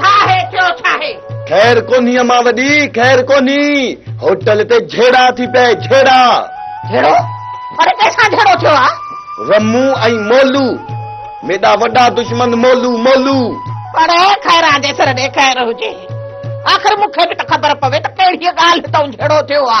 ڇاهي ٿيو ڇاهي. خير ڪونهي امان وڏي خير ڪونهي هوٽل تي جهيڙا ٿي پئي جهيڙا. جهيڙو اڙي ڪيسان جهيڙو ٿيو آ. رمو ۽ مولو ميڏا وڏا دشمن مولو مولو. اڙي خيران جي سر ڏي خير هجي آخر مون کي به ته خبر پوي ته ڪهڙيء ڳالهه هتئون جهيڙو ٿيو آ.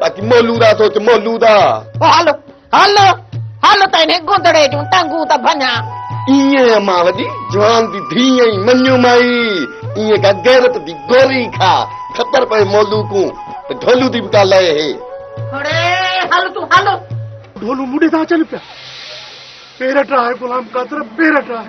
باقي مولود آ سوچ مولود آ. او هل هل هل ته انهي گندڙي جون ٽنگون ته ڀڃان. ايئن امان وڏي جوان جي ڌيء ۽ مڃيون مائي ايئن ڪا غيرت جي گوري کا خبر پوي مولود ڪون ته ڍولو دي به ڪا لئي هي. هڙي هل تون هل. ڍولو مون ڏي ٿا اچن پيا. پير ٽراهه غلام قادر پير ٽراهه.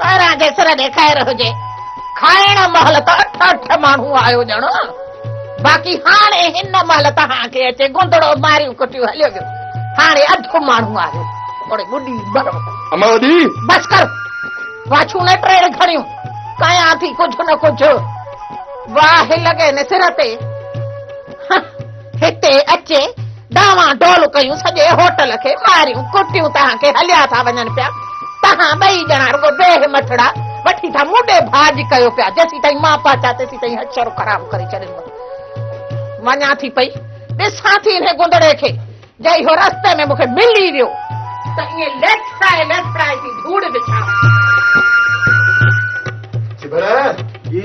سارا جي سر ڏي خير هجي کائڻ مهل ته اٺ اٺ ماڻهو آيو ڄڻو باقي هاڻي هن مهل توهان کي اچي گندڙو ماريون ڪٽيون هليو ويو هاڻي اڌ ماڻهو آيو هاڻي ٻڏي مرو اما وڏي بس ڪر واڇون نه ٽيڙ کڻيون ڪيان ٿي ڪجهه نه ڪجهه واهه لڳي نه سر تي هتي اچي ڊانوان ڊول ڪيون، سڄي هوٽل کي ماريون ڪٽيون، توهان کي هليا ٿا وڃن پيا، توهان ٻئي ڄڻا رڳو بي همٿڙا وٺي ٿا مون ڏي ڀاڄ ڪيو پيا، جيسيتائين مان پهچان تيسيتائين هي شروع خراب ڪري ڇڏيندو. وڃان ٿي پئي، ڏسان ٿي انهي گندڙي کي، جي اهو رستي ۾ مون کي ملي ويو ته ائين ليسپرائي ليسپرائي ٿي ڌوڙ وڇان. ڇڀر! جي؟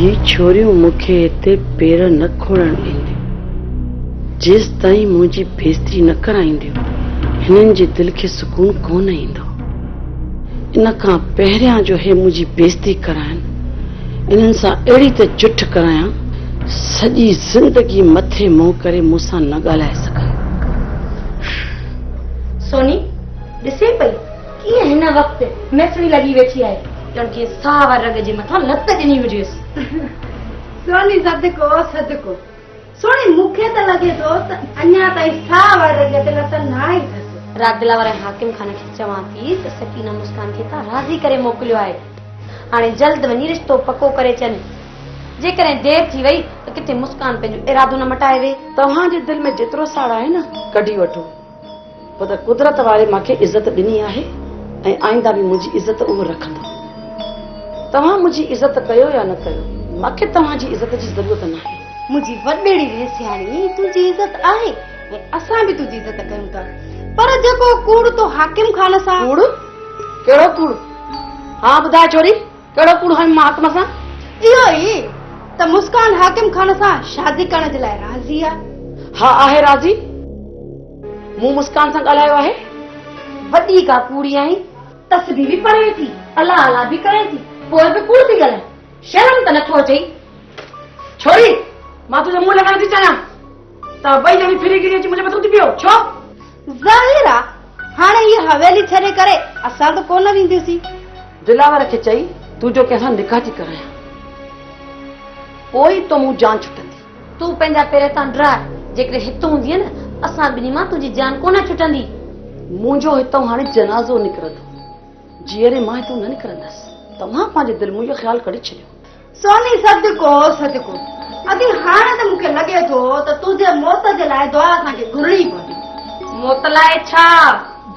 هي ڇوريون مون کي هتي پير نه کوڙڻ ڏينديون، جيستائين منهنجي بيستري نه ڪرائينديون، هنن جي دل کي سڪون ڪونه ايندو. ان کان پهريان جو هي منهنجي بيستري ڪرائن، انهن سان اهڙي ته جٺ ڪرايان، سڄي زندگي مٿي منهن ڪري مون سان نه ڳالهائي سگهن. سوني ڏسي پئي. ڪيئن هن وقت ميسڻي لڳي ويٺي آهي، ڄڻ ڪنهن ساهه واري رڳ جي مٿان لت ڏني هجيس. سوني صدقو صدقو. سهڻي مون کي ته لڳي ٿو ته اڃا تائين ساهه واري رڳ تي لت ناهي اٿس. راڳ دلا واري حاڪم خان کي چوان ٿي ته سڪينه مسڪان کي تان راضي ڪري موڪليو آهي. هاڻي جلد وڃي رشتو پڪو ڪري اچن. جيڪڏهن دير ٿي وئي ته ڪٿي مسڪان پنهنجو ارادو نه مٽائي وي. توهان جي دل ۾ جيترو ساڙ آهي نه، ڪڍي وٺو. پوء ته قدرت واري مان کي عزت ڏني آهي ۽ آئنده به منهنجي عزت اهو رکندو. توهان منهنجي عزت ڪيو يا نه ڪيو، مان کي توهان جي عزت جي ضرورت ناهي. منهنجي وڏڙي ويهه سياڻي، تنهنجي عزت آهي ۽ اسان به تنهنجي عزت ڪيون ٿا. پر جيڪو ڪوڙ تو حاڪم خان سان. ڪوڙ؟ ڪهڙو ڪوڙ؟ ها ٻڌاء ڇوري! ڪهڙو ڪوڙ هڻ محاڪم سان؟ اهو ئي ته مسڪان حاڪم خان سان شادي ڪرڻ جي لاء راضي آ. ها آهي راضي. مون مسڪان سان ڳالهايو آهي. وڏي ڪا ڪوڙي آهين. تسبيح به پڙهين ٿي، الله الله به ڪرين ٿي، پوء به ڪوڙ ٿي ڳالهائين. شرم ته نٿو اچئي. ڇوري، مان تنهنجو منهن لڳائڻ ٿي چاهيان. توهان ٻئي ڄڻي ڦري گهري اچي منهنجي مٿو ٿي پيو. ڇو؟ ظاهر آ هاڻي هيء حويلي ڇڏي ڪري اسان ته ڪونه وينديسين. دلاور کي چئي تون جو ڪنهن سان نڪاح ٿي ڪرايان پوء ئي تو مون جان ڇٽندي. تون پنهنجا پير هتان ڊراء جيڪڏهن هت هوندينء نه اسان ٻنهي مان تنهنجي جان ڪونه ڇٽندي. منهنجو هتئون هاڻي جنازو نڪرندو جيئري مان هتئون نه نڪرندس. توهان پنهنجي دل مون اهو خيال ڪڍي ڇڏيو سوني صدقو صدقو ادي هاڻي ته مون کي لڳي ٿو ته تنهنجي موت جي لاء دعا اسان کي گهرڻي پوندي موت لاء ڇا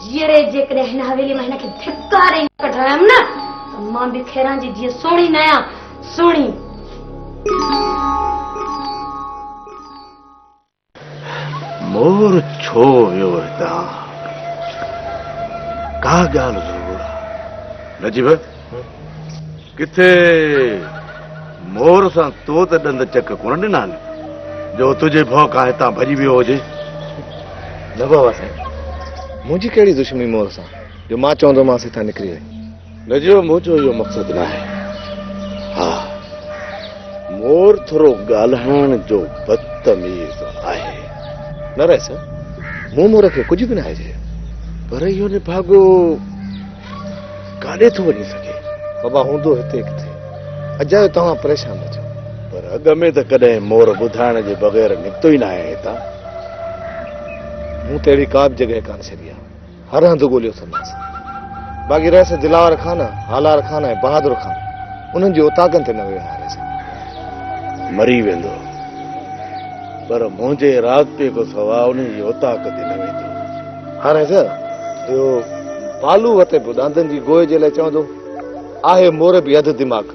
جيئري جيڪڏهن هن حويلي مان هن کي ڌڪاري ڪڍرايم نه ته مان به خيران جي جيئن سهڻي نه آهيان سهڻي مور ڇو ويو هتان؟ ڪا ڳالهه ضرور آ. نجيب، ڪٿي مور سان تو ته ڏند چڪ ڪونه ڏنا آهن جو تنهنجي ڀؤ کان هتان ڀڄي ويو هجي؟ نه بابا سائين، منهنجي ڪهڙي دشمني مور سان جو مان چوندومانس هتان نڪري وڃ. نجوم منهنجو اهو مقصد ناهي. ها مور ٿورو ڳالهائڻ جو بدتميز آهي. نه رئيس مون مور کي ڪجهه به ناهي چيو پر اهو نڀاڳو ڪاڏي ٿو وڃي سگهي. بابا هوندو هتي ڪٿي اجايو توهان پريشان نه ٿيو. پر اڳ ۾ ته ڪڏهن مور ٻڌائڻ جي بغير نڪتو ئي ناهي هتان. مون ته اهڙي ڪا به جڳهه ڪانه ڇڏي آهي. هر هنڌ ڳوليو اٿنداس باقي رهيس دلاور خان هالار خان ۽ بهادر خان انهن جي اوطاقن تي نه ويو آهيان مري ويندو پر منهنجي راضپي کان سواء ان جي اوطاق تي نه ويندو هر هنڌ اهو بالو وتي به ڏاندن جي گوئي جي لاء چوندو آهي مور به اڌ دماغ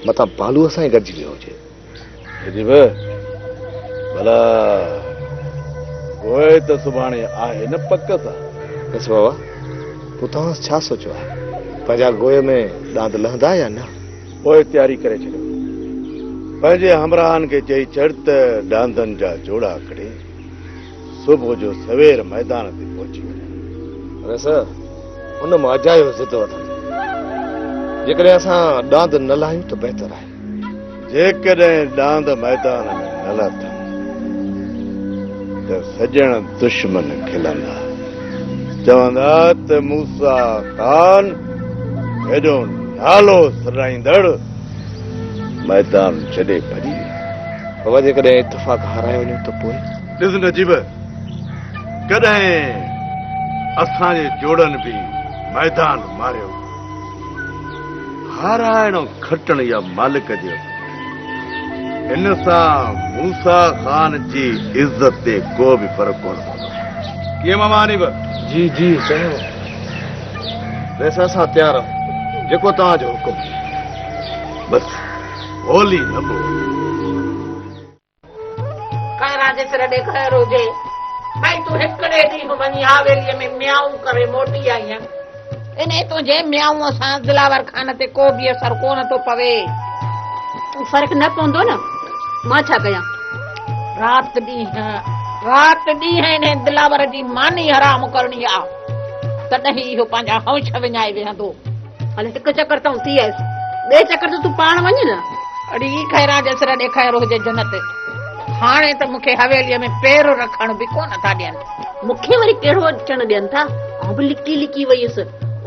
متان بالو سان ئي گڏجي ويو هجي ڀلا پوء ته سڀاڻي آهي نه پڪ سان بس بابا پوء توهان ڇا سوچيو آهي پنهنجا گوئي ۾ ڏاند لهندا يا نه پوء تياري ڪري ڇڏيو پنهنجي همراهن کي چئي ڇڏ ته ڏاندن جا جوڙا ڪڍي صبح جو سوير ميدان تي پهچي وڃن رس ان مان اجايو ضد وٺن جيڪڏهن اسان ڏاند نه لاهيون ته بهتر آهي جيڪڏهن ڏاند ميدان ۾ نه لٿم ته سڄڻ دشمن کلندا، چوندا ته موسيٰ خان هيڏو نالو سڏائيندڙ ميدان ڇڏي ڀڄي ويو. بابا جيڪڏهن اتفاق هارايو وڃون ته پوء؟ ڏس نجيب، ڪڏهن اسان جي جوڙن به ميدان ماريو. هارائڻو کٽڻ يا مالڪ جي هٿ ۾. ان سان موسيٰ خان جي عزت تي ڪو به فرق ڪونه پوندو. ڪيئن ماما حنيف؟ جي جي سائين. بس اسان تيار آهيون. جيڪو توهان جو حڪم. بس هولي نه پوي. خيران جي سر ڏي خير هجي. ڀئي تون هڪڙي ڏينهن وڃي حاويليء ۾ ميائون ڪري موٽي آئينء. انهيء تنهنجي ميائونء سان دلاور خان تي ڪو به اثر ڪونه ٿو پوي. فرق نه پوندو نه، مان ڇا ڪيان؟ رات ڏينهن، رات ڏينهن انهيء دلاور جي ماني حرام ڪرڻي آ، تڏهن ئي اهو پنهنجا هئونڇ وڃائي ويهندو. هل هڪ چڪر تائون ٿي آيس ٻئي چڪر ته تون پاڻ وڃ نه. اڙي هي خيران جي سر ڏيکايرو هجي جنت هاڻي ته مون کي حويليء ۾ پير رکڻ به ڪونه ٿا ڏين. مون کي وري ڪهڙو اچڻ ڏين ٿا آئون به لڪي لڪي ويس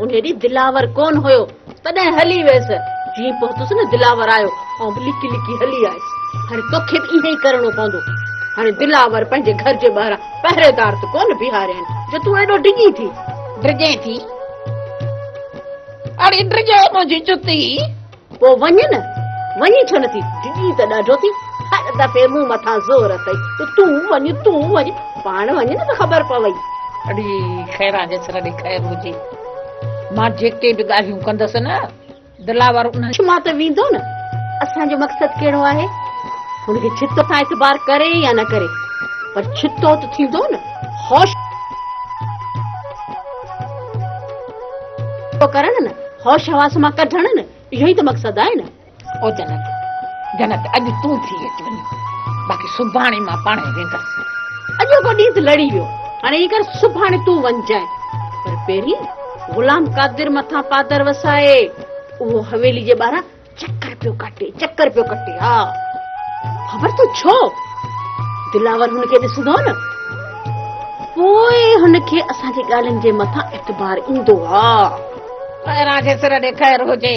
انهي ڏينهن دلاور ڪونه هيو تڏهن هلي ويس جيئن پهتس نه دلاور آيو آئون به لڪي لڪي هلي آيس هاڻي توکي به ائين ئي ڪرڻو پوندو هاڻي دلاور پنهنجي گهر جي ٻاهران پهريدار ته ڪونه بيهاريائين جو تون ايڏو ڊڄين ٿي ڊڄين ٿي. اڙي ڊڄو منهنجي جتي. پوء وڃ نه، وڃي ڇو نٿي؟ ڊڄي ته ڏاڍو ٿي، هر دفعي مون مٿان زور اٿئي ته تون وڃ، تون وڃ، پاڻ وڃ نه ته خبر پوي. اڙي خيران جسر ڏي خير هجي، مان جيڪي به ڳالهيون ڪندس نه. دلاور ان شما ته ويندو نه اسان جو مقصد ڪهڙو آهي هن کي ڇتو سان اعتبار ڪري يا نه ڪري پر ڇتو ته ٿيندو نه هوش ڪرڻ نه هوش حواس مان ڪڍڻ نه اهو ئي ته مقصد آهي نه او جنت جنت اڄ تون ٿي اچ وڃي باقي سڀاڻي مان پاڻ ويندس اڄو ڏينهن لڙي ويو هاڻي هي ڪر سڀاڻي تون وڃجانء پر پهرين غلام قادر مٿان پادر وسائي اهو حويلي جي ٻاهران چڪر پيو ڪاٽي چڪر پيو ڪاٽي ها خبر تو ڇو دلاور هن کي ڏسندو نه پوء هن کي اسان جي ڳالهين جي مٿان اعتبار ايندو ها خيران کي سر ڏي خير هجي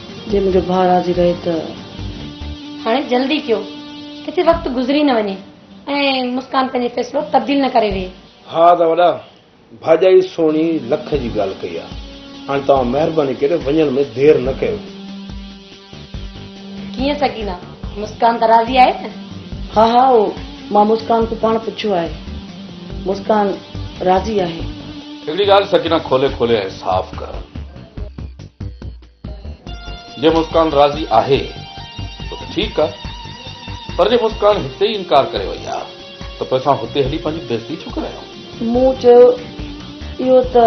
جي منهنجو ڀاء راضي رهي ته. هاڻي جلدي ڪيو، ڪٿي وقت گذري نه وڃي ۽ مسڪان پنهنجي فيصلو تبديل نه ڪري ويهي. ها ته وڏا، ڀاڄائي سهڻي لک جي ڳالهه ڪئي آ، هاڻي توهان مهرباني ڪري وڃڻ ۾ دير نه ڪيو. ڪيئن سڪينه، مسڪان ته راضي آهي نه؟ ها ها، اهو مان مسڪان کان پاڻ پڇيو آهي، مسڪان راضي آهي. هڪڙي ڳالهه سڪينه کولي کولي ۽ صاف ڪر. جي مسڪان راضي آهي ته ٺيڪ آ پر جي مسڪان هتي ئي انڪار ڪري وئي آ ته پوء اسان هتي هلي پنهنجي بيزتي ڇو ڪرايون؟ مون چيو اهو ته.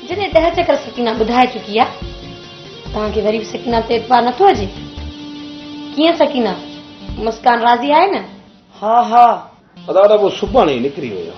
جڏهن ڏهه چڪر سڪينه ٻڌائي چڪي آ توهان کي وري به سڪينه تي اعتبار نٿو هجي؟ ڪيئن سڪينه مسڪان راضي آهي نه؟ ها ها. ادا ادا پوء سڀاڻي ئي نڪري ويو.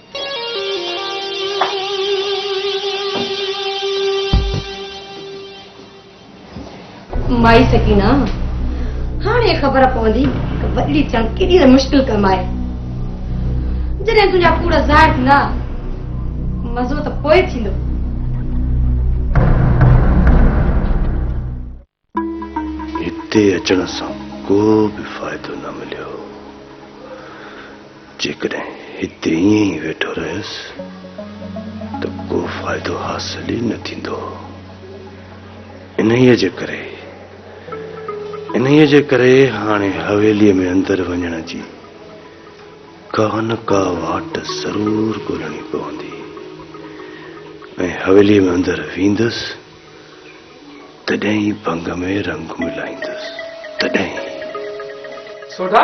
مائي سڪينه هاڻي خبر پوندي ته وڏڙي ٿيڻ ڪيڏي ته مشڪل ڪم آهي جڏهن تنهنجا ڪوڙ ظاهر ٿيندا مزو ته پوء ٿيندو هتي اچڻ سان ڪو به فائدو نه مليو. جيڪڏهن هتي ائين ئي ويٺو رهيس ته ڪو فائدو حاصل ئي نه ٿيندو. انهيء جي ڪري انهيء جي ڪري هاڻي حويليء ۾ اندر وڃڻ جي ڪا نه ڪا واٽ ضرور ڳولڻي پوندي ۽ حويليء ۾ اندر ويندس تڏهن ئي ڀنگ ۾ رنگون لائيندس تڏهن ئي. سوڍا،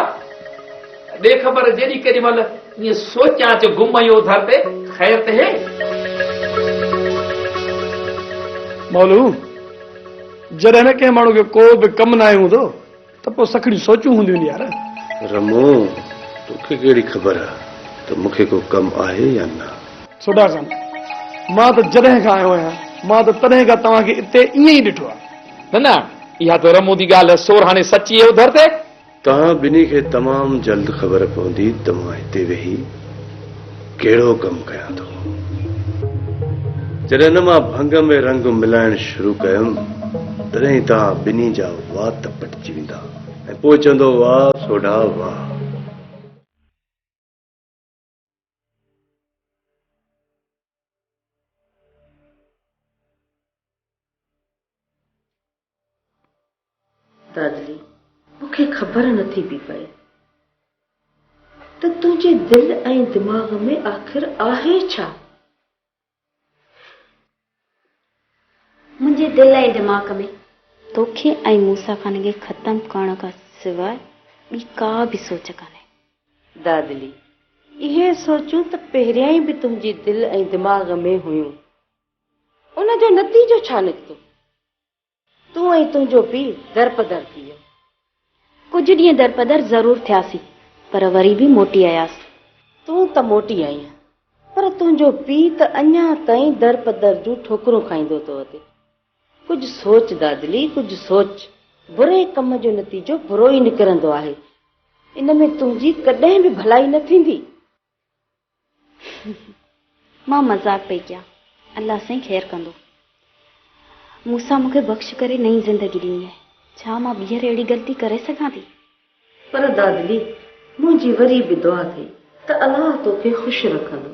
ڏي خبر جيڏي ڪيڏي مهل ائين سوچيان اچ گم ۽ اوڌر تي خير ته هي. مولو، جڏهن نه ڪنهن ماڻهو کي ڪو به ڪم ناهي هوندو. ته پوء سکڻيون سوچيون هونديون ني يار. رمو، توکي ڪهڙي خبر آ ته مون کي ڪو ڪم آهي يا نه. سوڍا خان، مان ته جڏهن کان آيو آهيان، مان ته تڏهن کان توهان کي اتي ائين ئي ڏٺو آ. نه نه، اها ته رمو جي ڳالهه سورهاڻي سچي اهي اڌر تي. توهان ٻنهي کي تمام جلد خبر پوندي ته مان هتي ويهي. ڪهڙو ڪم ڪيان ٿو. جڏهن مان ڀنگ ۾ رنگ ملائڻ شروع ڪيم تڏهن ئي توهان ٻنهي جا وات پٽجي ويندا ۽ پوء چوندو واهه سوڍا واهه. دادلي، مون کي خبر نه ٿي پئي پئي ته تنهنجي دل ۽ دماغ ۾ آخر آهي ڇا؟ منهنجي دل ۽ دماغ ۾ توکي ۽ موسيٰ خان کي ختم ڪرڻ کان سواء ٻي ڪا به سوچ ڪانهي. دادلي، اهي سوچون ته پهريائين به تنهنجي دل ۽ دماغ ۾ هيون. ان جو نتيجو ڇا نڪتو؟ تون ۽ تنهنجو پيء درپدر ٿي ويو. ڪجهه ڏينهن درپدر ضرور ٿياسين، پر وري به موٽي آياسين. تون ته موٽي آئينء، پر تنهنجو پيء ته اڃا تائين درپدر جون ٺوڪرون کائيندو ٿو اچي. ڪجهه سوچ دادلي، ڪجهه سوچ. بري ڪم جو نتيجو برو ئي نڪرندو آهي. ان ۾ تنهنجي ڪڏهن به ڀلائي نه ٿيندي. مان مذاق پئي ڪيان. الله سائين خير ڪندو. مون سان مون کي بخش ڪري نئين زندگي ڏني آهي. ڇا مان ٻيهر اهڙي غلطي ڪري سگهان ٿي؟ پر دادلي، منهنجي وري به دعا اٿئي ته الله توکي خوش رکندو.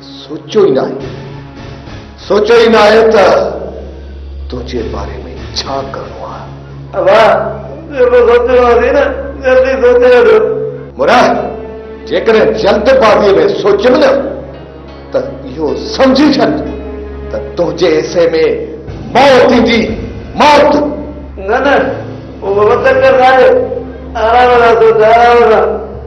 سوچيو ئي ناهي سوچيو ئي ناهي ته تنهنجي باري ۾ ڇا ڪرڻو آهي. ابا ٻيو به سوچڻو اٿئي نه جلدي سوچي وٺو. مراد جيڪڏهن جلد بازيء ۾ سوچيم نه ته اهو سمجهي ڇڏ ته تنهنجي حصي ۾ موت ايندي موت. نه نه اهو به چڪر ناهي آرام سان سوچ آرام سان.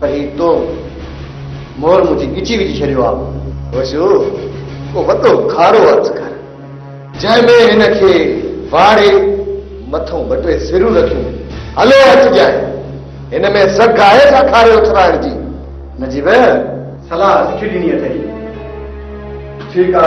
پئي تو مور منهنجي ڳچي وجهي ڇڏيو آ. وسيو ڪو وڏو کارو هٿ ڪر جنهن ۾ هن کي واڙي مٿو ٻه ٽي سرون رکيون هلو هٿ ڄائي هن ۾ سگهه آهي ڇا کاري اٿرائڻ جي نجيب صلاح سٺي ڏني اٿئي ٺيڪ آ.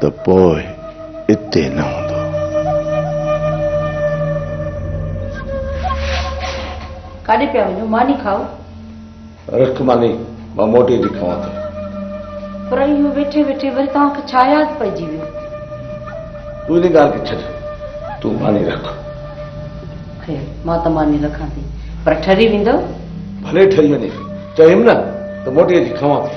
ته پوء اتي نه هوندو. ڪاڏي پيا وڃو؟ ماني کائو. رک ماني، مان موٽي ٿي کائان ٿو. پر اهو ويٺي ويٺي وري توهان کي ڇا ياد پئجي ويو؟ تون ان ڳالهه کي ڇڏ، تون ماني رک. خير، مان ته ماني رکان ٿي، پر ٺري ويندؤ؟ ڀلي ٺري وڃي، چيم نه ته موٽي ٿي کائان ٿو.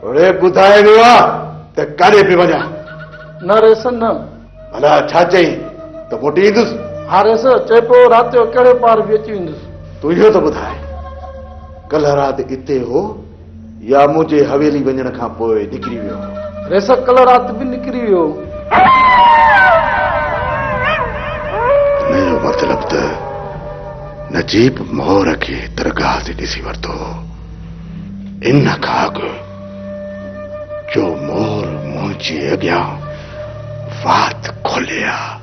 توڙي ٻڌائي ويو آ ته ڪاڏي پي وڃان. نه ريس نه. ڀلا ڇا چئين ته موٽي ايندس؟ ها ريس چئي پيو رات جو ڪهڙي پار به اچي ويندس. تون اهو ته ٻڌاء ڪلهه رات اتي هو يا منهنجي حويلي وڃڻ کان پوء نڪري ويو هو؟ ريس ڪلهه رات به نڪري ويو هو. ان جو مطلب ته نجيب مور کي درگاهه تي ڏسي ورتو هو. ان کان اڳ جو مور منهنجي اڳيان وات کولي ها،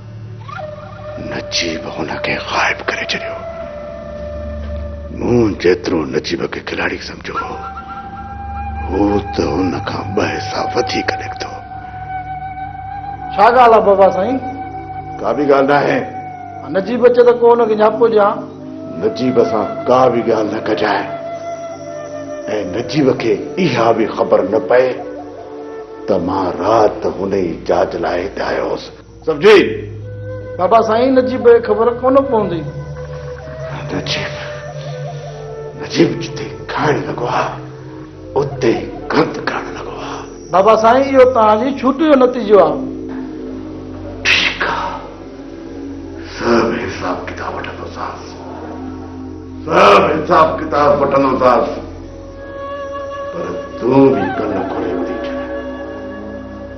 نجيب هن کي غائب ڪري ڇڏيو. مون جيترو نجيب کي کلاڙي سمجهيو هو، هو ته ان کان ٻه حصا وڌيڪ نڪتو. ڇا ڳالهه آهي بابا سائين؟ ڪا به ڳالهه ناهي. نجيب اچي ته ڪو هن کي نياپو ڏيان. نجيب سان ڪا به ڳالهه نه ڪجانء ۽ نجيب کي اها به خبر نه پئي ته مان رات هن ئي جاج لاء هتي آيو هوس. سمجهي؟ بابا سائين نجيب کي خبر ڪونه پوندي. نجيب نجيب جتي کائڻ لڳو آ. اتي گند ڪرڻ لڳو آ. بابا سائين اهو توهان جي ڇوٽي جو نتيجو آ. ٺيڪ آ سڀ حساب ڪتاب وٺندوسانس سڀ حساب ڪتاب وٺندوسانس پر تون به ڪن کولي ٻڌي ڇڏ.